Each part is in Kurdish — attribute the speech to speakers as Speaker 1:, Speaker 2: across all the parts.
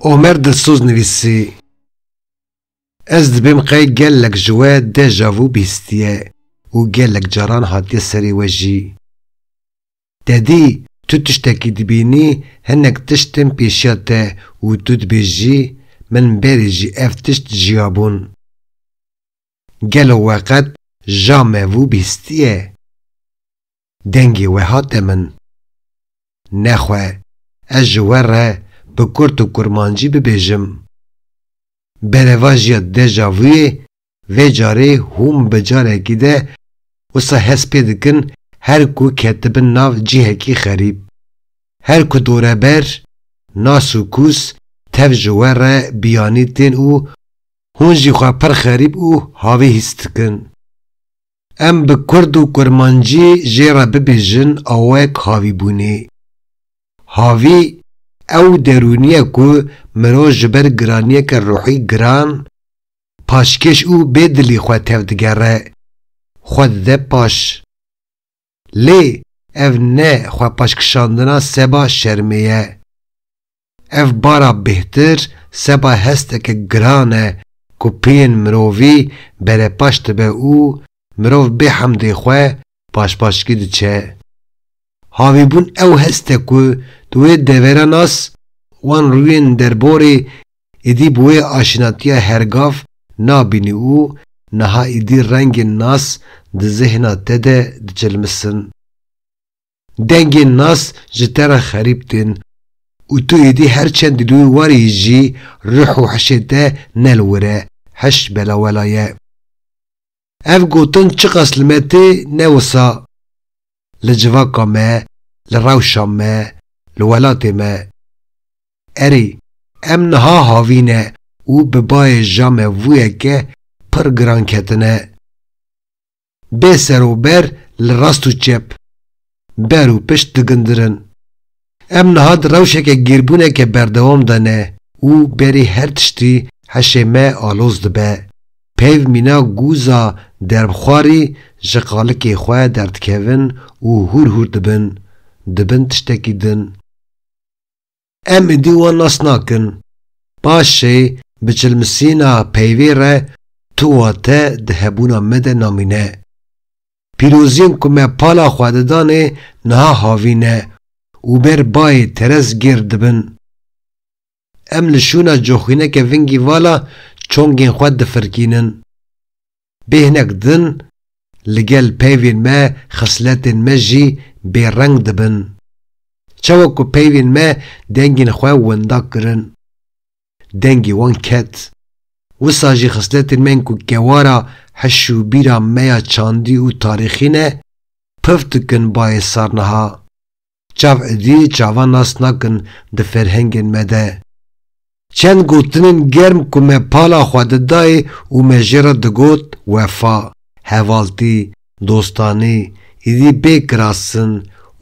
Speaker 1: Omer Dilsoz nivîsî, Ez dibêm qey gelek ji we deja vû bîstiye û gelek caran hatiye serê we jî. Tedî tu tiştekî dibînî hinek tişt tên pêşiya te û tu dibêjî, min berê jî ev tişt jiyabûn. Gelo we qet ja mevû bîstiye? Dengê we hate min. Nexwe ez ji we re bi kurt û kurmancî bibêjim. Berevajiya deja vûyê vê carê hûn bi carekî de wisa hest pê dikin her ku ketibin nav cîhekî xerîb. Her ku dore ber, nas û kûs tev ji we re biyanî tên û Hûn jî xwe pir xerîb û havî hîs dikin. Em bi kurd û kurmancî jê re bibêjin awayek havîbûnê. Havî, ew derûniyek ku mirov ji ber giraniyeke ruhî giran, paşkêş û bêdilî xwe tevdigere, xwe dide paş. Lê ev ne xwepaşkişandina seba şermê ye. Ev bara bêhtir seba hesteke giran e ku peyên mirovî berepaş dibe û mirov bê hemdê xwe paşpaşkî diçe. Havîbûn ew hest e ku di wê devera nas wan rûyên derborê Êdî bi wê aşinatiya hergav nabînî û niha êdî rengên nas di zehna te de diçilmisin. Dengên nas ji te re xerîb tên û tu êdî her çend li wî warî jî ruh û hişê te ne li wir e, hiş belawela ye. Ev gotin çiqas li me tê ne wisa li civaka me, li rewşa me, li welatê me. Erê, em niha havîne û bi bayê ja mevûyeke pir giran ketine. Bê serober li rast û çep, ber û pişt digindirin. Em niha di rewşeke gêrbûneke berdewam de ne û berî her tiştî heşê me aloz dibe. Peyv mîna gûza derbxwarî ji qalikê xwe derdikevin û hûr hûr dibin. Dibin tiştekî din. Em êdî wan nas nakin. Paşê bi çilmisîna peyvê re tu û te di hebûna me de namîne. Pîroziyên ku me pala xwe de danê niha havî ne û ber bayê terez gêr dibin. Em li şûna coxîneke vingî vala çongên xwe difirkînin. Bê hinek din li gel peyvên me xisletên me jî bêreng dibin. Çawa ku peyvên me dengên xwe wenda kirin, dengê wan ket. Wisa jî xisletên me ên ku kewara hiş û bîra me ya çandî û tarîxî ne, piv dikin bayê sar niha. çav êdî çavan nas nakin di ferhengên me de. Çend gotinên germ ku me pala xwe didayê û me jê re digot wefa, hevaltî, dostanî, êdî bê kirastin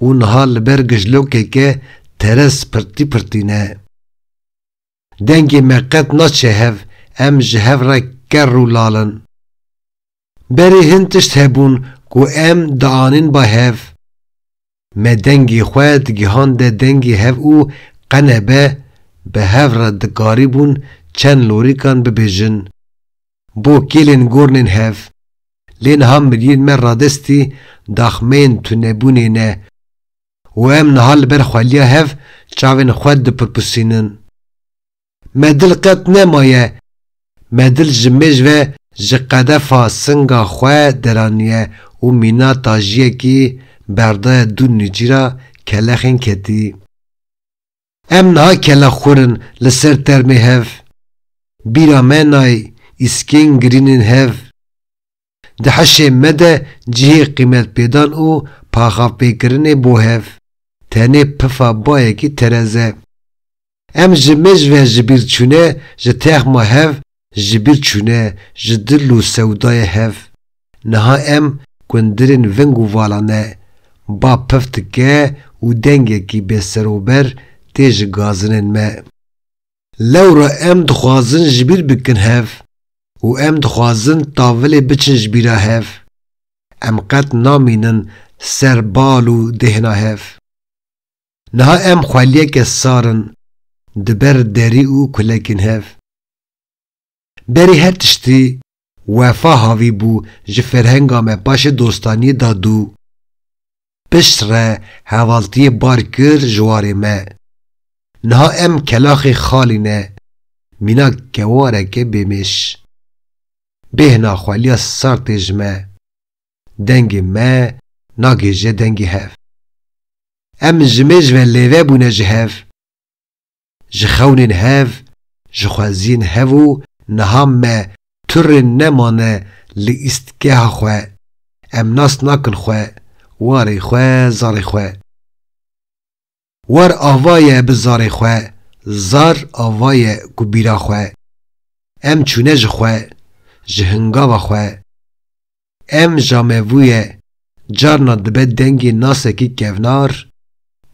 Speaker 1: û niha li ber gijlokeke teres pirtî pirtî ne. Dengê me qet naçe hev, em ji hev re kerr û lal in. Berê hin tişt hebûn ku em dianîn ba hev. Me dengê xwe digihande dengê hev û qenebe bi hev re dikarîbûn çend lorîkan bibêjin. Bo kêlên gornên hev. Lê niha miriyên me radestî daxmeyên tunebûnê ne. û em niha li ber xweliya hev çavên xwe dipirpusînin. Me dil qet nemaye, me dil ji mêj ve ji qedefa singa xwe deraniye û mîna tajiyekî berdaye dû nûcîra kelexên ketî. Em niha kela xwir in li ser termê hev. Bîra me nayê îskên girîn ên hev. Di hişê me de cihê qîmetpêdan û paxavpêkirinê bo hev, tenê pifa bayekî tereze. Em ji mêj ve ji bîr çûne ji texma hev ji bîr çûne ji dil û sewdayê hev. Niha em gundirên veng û vala ne. Ba pif dike û dengekî bêserober tê ji gazinên me. Lewra em dixwazin ji bîr bikin hev û em dixwazin tavilê biçin ji bîra hev. Em qet namînin ser bal û dêhna hev. Niha em xweliyeke sar in di ber derî û kulekên hev. Berî her tiştî Wefa havî bû ji ferhenga me paşê dostaniyê da dû. Pişt re hevaltiyê bar kir ji warê me. Niha em kelaxê xalî ne, mîna kewareke bêmêş. Bêhna xweliya sar tê ji me. dengê me nagihije dengê hev. Em ji mêj ve lêve bûne ji hev, ji xewnên hev, ji xweziyên hev û niha me tu rê nemane li îstgeha xwe, em nas nakin xwe, warê xwe, zarê xwe. War ava ye bi zarê xwe, zar ava ye ku bîra xwe. Em çûne ji xwe, ji hingava xwe. Em jamevûye carna dibe dengê nasekî kevnar,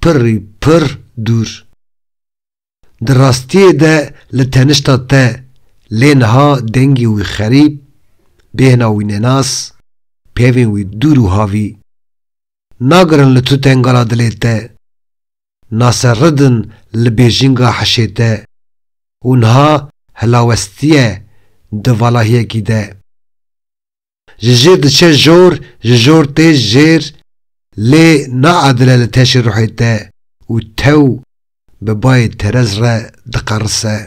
Speaker 1: pirrî pirr dûr. Di rastiyê de li tenişta te lê niha dengê wî xerîb, bêhna wî nenas, pevên wî dûr û havî. Nagirin li tu tengala dilê te, naseridin li bêjinga hişê te û niha hilawestiye di valahiyekî de. Ji jêr diçe jor, ji jor tê jêr lê naadile li teşê ruhê te û tew bi bayê terez re diqerise.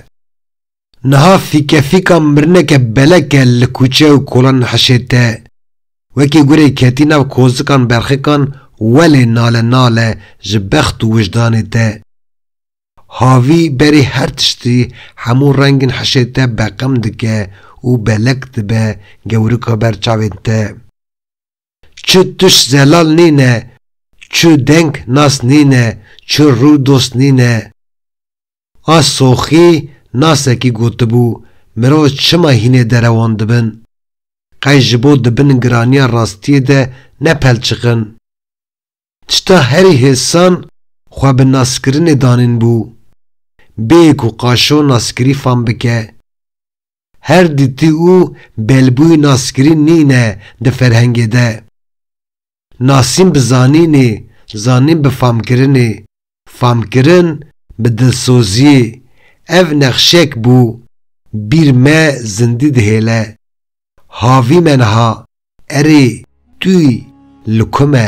Speaker 1: Niha fîkefîka mirineke beleke li kûçe û kolan hişê te wekî gurê ketî nav kozikan berxikan welê nale nale ji bext û wijdanê te. Havî berê her tiştî hemû rengên hişê te beqem dike û belek dibe gewrika ber çavên te. Çi tuş zelal nîne, çi deng nas nîne, çi rû dost nîne. A Soxî nasekî gotibû, Mirov çima hînê derewan dibin? Qey ji bo di bin giraniya rastiyê de nepelçiqin. Çita herî hêsan xwe bi naskirinê danîn bû. Bê ku qaşo naskirî fam bike. Her dîtî û belbûyî naskirî nîne di ferhengê de. Nasîn bi zanînê, zanîn bi famkirinê. Famkirin bi dilsoziyê, ev nexşek bû bîr me zindî dihêle. Havî me niha, erê tûy li ku me?